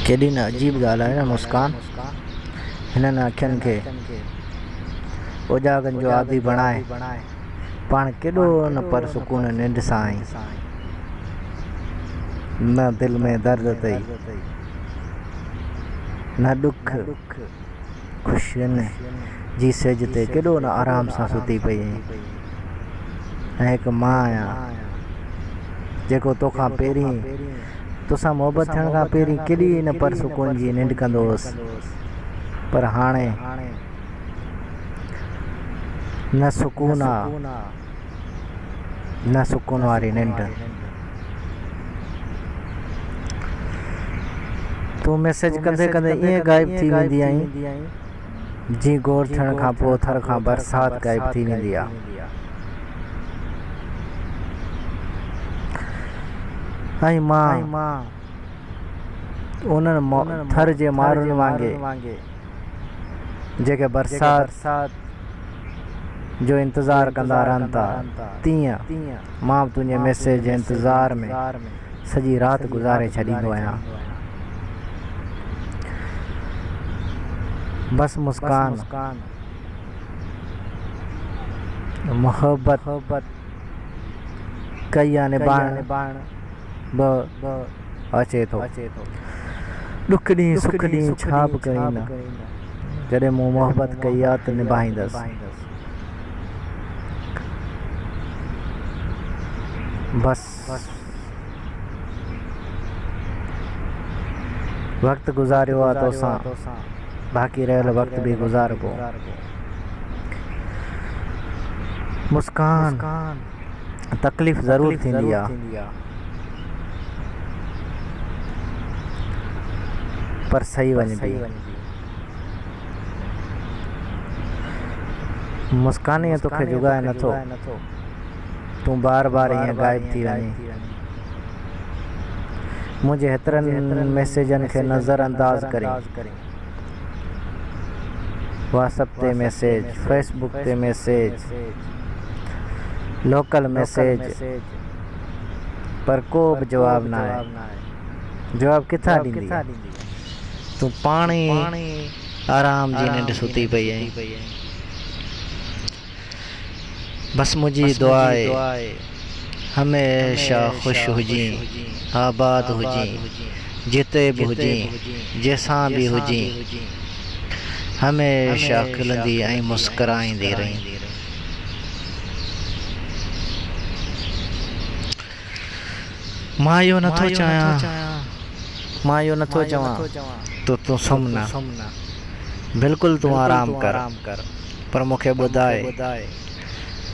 ڪيڏي نه عجيب ڳالهه آهي نه مسڪان هنن اکين کي اوجاڳن جو عادي بڻائي پاڻ ڪيڏو نه پر سڪون ننڊ سان آئين نه دل ۾ درد اٿئي نه ڏک خوشين جي سيج تي ڪيڏو نه آرام سان ستي پئي آهين. ۽ هڪ مان آهيان جيڪو تو کان پهرين توسان محبت ٿيڻ کان پهرين ڪيڏي نه پر سڪون جي ننڊ ڪندو هوس پر هاڻي نه سڪون آ نه سڪون واري ننڊ تون ميسيج ڪندي ڪندي ائين غائب ٿي ويندي آهين جي گور ٿيڻ کان پوء ٿر کان برسات غائب ٿي ويندي آهي ۽ مان انهن ٿر جي مارن وانگي جيڪي برسات جو انتظار ڪندا رهن ٿا تيئن مان به تنهنجي ميسيج جي انتظار ۾ سڄي رات گذاري ڇڏيندو آهيان. بس مسڪان، محبت ڪئي يا نباهڻ به اچي ٿو. ڏک ڏينهن سک ڏينهن ڇا به ڪرين نه، جڏهن مون محبت ڪئي آ ته نباهيندس. بس. وقت گذاريو آ توسان باقي رهيل وقت به گذاربو مسڪان تڪليف ضرور ٿيندي آ پر سهي وڃبي مسڪان ئي توکي جڳائي نٿو تون بار بار ائين غائب ٿي وڃين. منهنجي هيترن ميسيجن کي نظر انداز ڪرين. واٽس اپ تي ميسيج، فيس بوڪ تي ميسيج، لوڪل ميسيج پر ڪو به جواب ناهي. جواب ڪٿان ڏيندينء؟ تون پاڻ ئي آرام جي ننڊ ستي پئي آهين. بس منهنجي دعا آهي هميشه خوش هجين آباد هجين جتي به هجين جنهن سان به هجين هميشه کلندي ۽ مسڪرائيندي رهين. مان اهو نه ٿو چاهيان مان اهو نه ٿو چوان ته تون سمهه نه بلڪل تون آرام ڪر. پر مون کي ٻڌاء،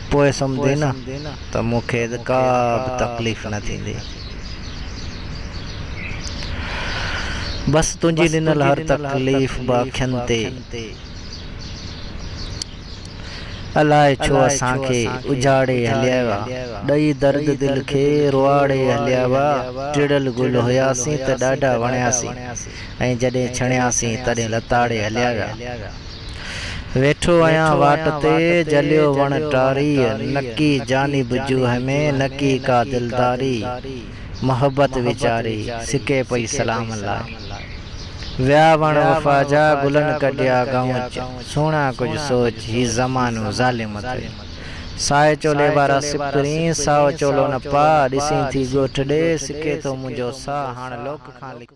پوء سمجهين نه ته مون کي ڪا به تڪليف نه ٿيندي. بس تنهنجي ڏنل هر تڪليف به اکين تي. الاء ڇو اسان کي اجهاڙي هليا ويا، ڏئي درد دل کي روئاڙي هليا ويا، ٽڙيل گل هياسين ته ڏاڍا وڻياسين ۽ جڏهن ڇڻياسين تڏهن لتاڙي هليا ويا. ويٺو آهيان واٽ تي، جليو وڻ ٽاري، نڪي جاني بجوهه ۾، نڪي ڪا دلداري، محبت ويچاري، سڪي پئي سلام لاء. ويا وڻ وفا جا، گلن ڪڍيا گئونچ، سهڻا ڪجهه سوچ، هي زمانو ظالم ٿئي. سائي چولي وارا سپرين، سائو چولو نه پاء، ڏسين ٿي ڳوٺ ڏي، سڪي ٿو منهنجو ساهه، هاڻ لوڪ کان لڪي.